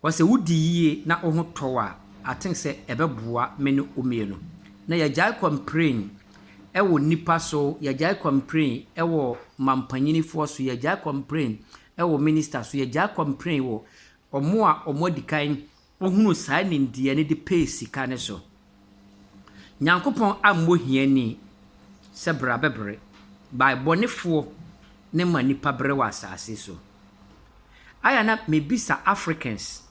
But sɛ wodi yie na wo ho tɔ wo a, I think sɛ ɛbɛboa me ne wo mmienu. Na yɛagyae complain wɔ nnipa so, yɛagyae complain wɔ mampanyinifoɔ so, yɛagyae complain wɔ minister so, yɛagyae complain wɔ wɔn a wɔadi kan hunu saa nimdeɛ no de pɛɛ sika no so. Nyankopɔn ammɔ hiani sɛ brabɛbere by bɔnefoɔ ne ma nipa bere wɔ asaase so. Ayɛ a na mebisa Africans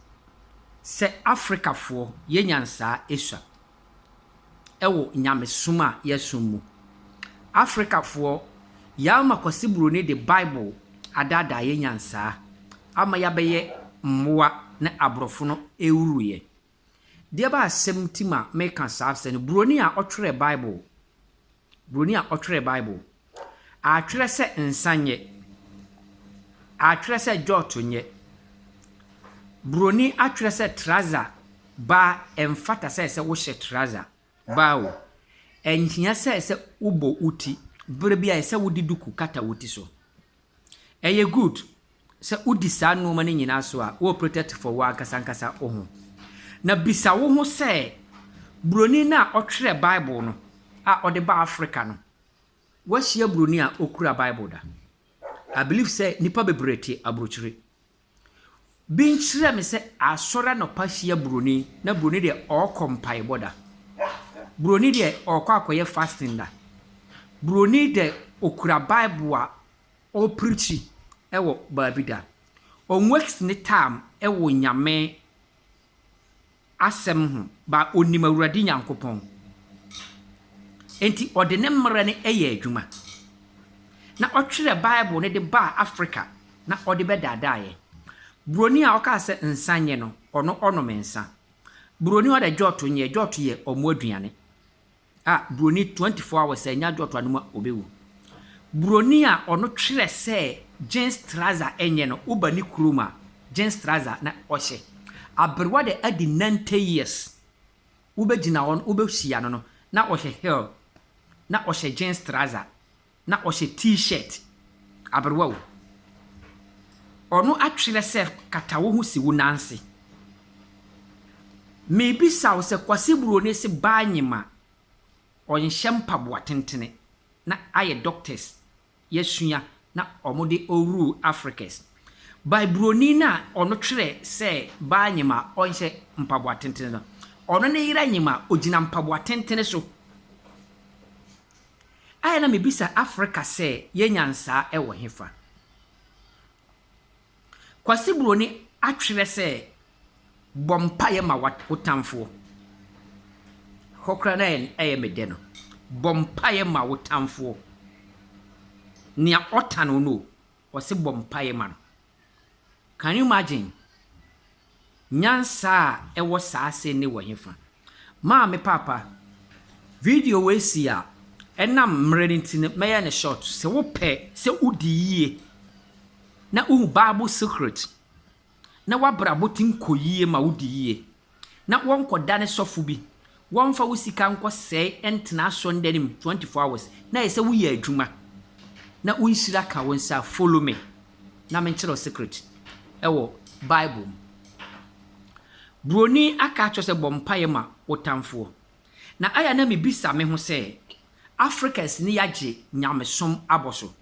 sɛ Africafoɔ yɛ nyansaa esua ɛwɔ nyamesom a yɛsom mu. Africafoɔ yɛama Kwasi Buroni de Bible adaadaa yɛ nyansaa ama yɛabɛyɛ mmoa ne abrɔfo no ɛwuruiɛ. Deɛ ɛba asɛm nti ma meka saa asɛm no, buroni a ɔtwerɛɛ Bible, buroni a ɔtwerɛɛ Bible, atwerɛ sɛ nsa nyɛ, atwerɛ sɛ dwɔɔto nyɛ, buroni atwerɛ sɛ trouser baa ɛmfata sɛ sɛ wohyɛ trouser baa o, ɛnhia sɛ sɛ wobɔ wo ti, berɛ biara ɛsɛ sɛ wode duku kata wo ti so. Ɛyɛ good sɛ wodi saa nnoɔma no nyinaa so a wowɔ protect for w'ankasa ankasa wo ho. Na bisa wo ho sɛ, Buroni no a ɔtwerɛɛ Bible no a ɔde baa Africa no, woahyia buroni a ɔkura Bible da? I believe sɛ nnipa bebree te aburokyire. Bi nkyerɛ me sɛ asɔre anɔpa hyia buroni na buroni deɛ ɔkɔ mpaebɔ da. Buroni deɛ ɔkɔ akɔyɛ fasting da. Buroni dɛ ɔkura bible a ɔreprikyi wɔ baabi da. Ɔnwɛks ne taam wɔ Nyame asɛm ho, ba onim Awurade Nyankopɔn, enti ɔde ne mmara no yɛɛ adwuma, na ɔtwerɛɛ Bible no de baa Afrika na ɔde bɛdaadaa yɛn. Buroni a ɔkaa sɛ nsa nyɛ no, ɔno ɔnom nsa. Buroni a ɔda Djort nyɛ, Djort yɛ wɔn aduane. Ah broni twenty four hours sɛ ɛnyɛ adwoɔtoa no mu a ɔbɛwu. Broni a ɔno twerɛ sɛ jeans trouser ɛnyɛ no woba ne kurom a jeans trouser na ɔhyɛ. Aberewa de adi ninety years wobɛgyina hɔ no wobɛhyia no no na ɔhyɛ heel na ɔhyɛ jeans trouser Na ɔhyɛ T-shirt. Aberewa o. Ɔno atwerɛ sɛ kata wo ho si wo nan ase. Mebisa wo sɛ Kwasi Broni se baa nyim a ɔnhyɛ mpaboa tentene na ayɛ doctors yɛasua na ɔmo de rule Africas by Broni no a ɔno twerɛ sɛ baa nyim a ɔnhyɛ mpaboa tentene no ɔno ne yera nyim a ogyina mpaboa tentene so. Ayɛ na mebisa Afrika sɛ yɛanya nsaa ɛwɔ hefa? Kwasi Buroni atwerɛ sɛ bɔ mpaeɛ ma wo tamfoɔ. Ɛhɔ koraa na ɛyɛ me dɛ no. Bɔ mpaeɛ ma wo tamfoɔ. Nea ɔtan wo no o, ɔse bɔ mpaeɛ ma no. Can you imagine? Nyansa a ɛwɔ saa ase ne wɔ hefa? Maame Paapa, video wei si a, ɛnam mmerɛ no nti no, mɛyɛ no short. Sɛ wopɛ sɛ wodi yie na wohu Bible secret na w'abrabɔ tim kɔ yie ma wodi yie na wɔnkɔdane sɔfo bi, wɔmfa wo sika nkɔsɛe ntena asɔndane mu twenty four hours, na ɛsɛ sɛ woyɛ adwuma na wo nhyira ka wo nsa a follow me na menkyerɛ wo secret ɛwɔ bible mu. Buroni aka akyerɛ sɛ bɔ mpaeɛ ma wo tamfoɔ. Na ayɛ a na mebisa me ho sɛ Africans ne yɛagye nyamesom abɔ so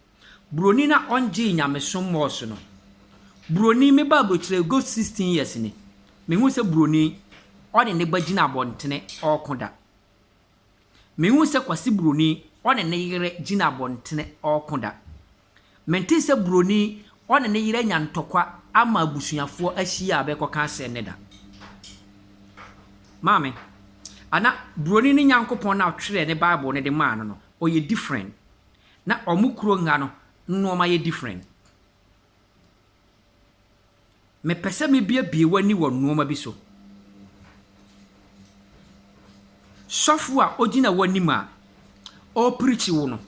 Buroni na ɔngyee nyamesom mɔɔso no. Buroni, me ba abrokyire good sixteen years ni, mehuu sɛ buroni ɔne ne ba gyina abɔntene ɔɔko da. Mehuu sɛ Kwasi buroni ɔne ne yere gyina abɔntene ɔɔko da. Mentee sɛ buroni ɔne ne yere anya ntɔkwa ama abusuafoɔ ahyia a bɛɛkɔka asɛm no da. Maame, ana buroni ne Nyankopɔn no a ɔtwerɛɛ ne Bible no de maa no no, ɔyɛ different? na ɔmo kuro nha no nnoɔma yɛ different. Mepɛ sɛ me biebie w'ani wɔ nnoɔma bi so. Sɔfo a ɔgyina w'anim a ɔrepreach wo no,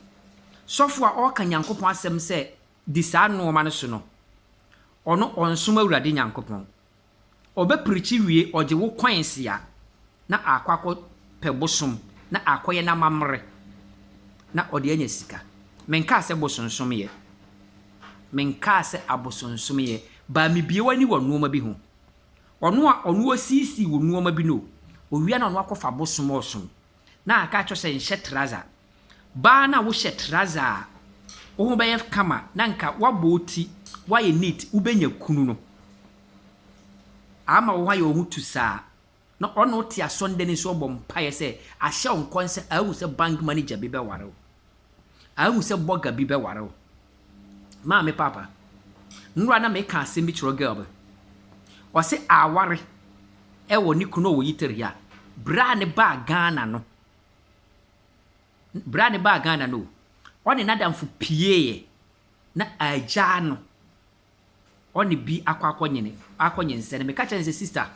sɔfo a ɔreka Nyankopɔn asɛm sɛ di saa nnoɔma no so no, ɔno ɔnsom Awurade Nyankopɔn. Ɔbɛprikyi wie ɔgye wo kwansia na aakɔ akɔ pɛ bosom na aakɔyɛ no amammere na ɔde anya sika. Menkaa sɛ bosonsomyɛ, menkaa sɛ abosonsomyɛ but mebue w'ani wɔ nnoɔma bi ho. Ɔno a ɔno ɔsiisii wo nnoɔma bi no, owia na ɔno akɔfa bosom ɔsom Na aka akyerɛ wo sɛ nhyɛ traza. Baa na wohyɛ traza a, wo ho bɛyɛ kama na nka woabɔ wo ti, woayɛ neat, wobɛnya kunu no. Ama wo ho ayɛ wo ho tusaa. Na ɔne wo te asɔndani nso ɔbɔ mpaeɛ sɛ ahyɛ wo nkɔn sɛ ahu sɛ bank manager bi bɛware wo. Ahu sɛ bɔga bi bɛware wo. Maa me paapa. Nnora na meka asɛm bi kyerɛ girl bi. Ɔse aware wɔ ne kunu a ɔwɔ yiteri a, berɛ a ne baa Ghana no, berɛ a ne baa Ghana no o, ɔne n'adamfo pieeɛ na agyaa no. ɔne bi akɔ akɔnyene, akɔnyinsɛne. Meka kyerɛɛ no sɛ, Sista,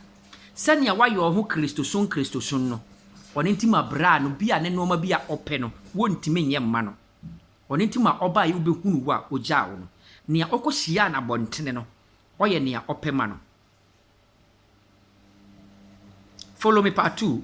sɛnea woayɛ wo ho Kristosom Kristosom no, ɔno nti ma braa no bi a ne nnoɔma bi a ɔpɛ no, wontumi nyɛ mma no. Ɔno nti ma ɔbaeɛ wobɛhunuu wo a ɔgyaa wo no. Nea ɔkɔhyiaa no abɔntene no, ɔyɛ nea ɔpɛ ma no. Follow me part two.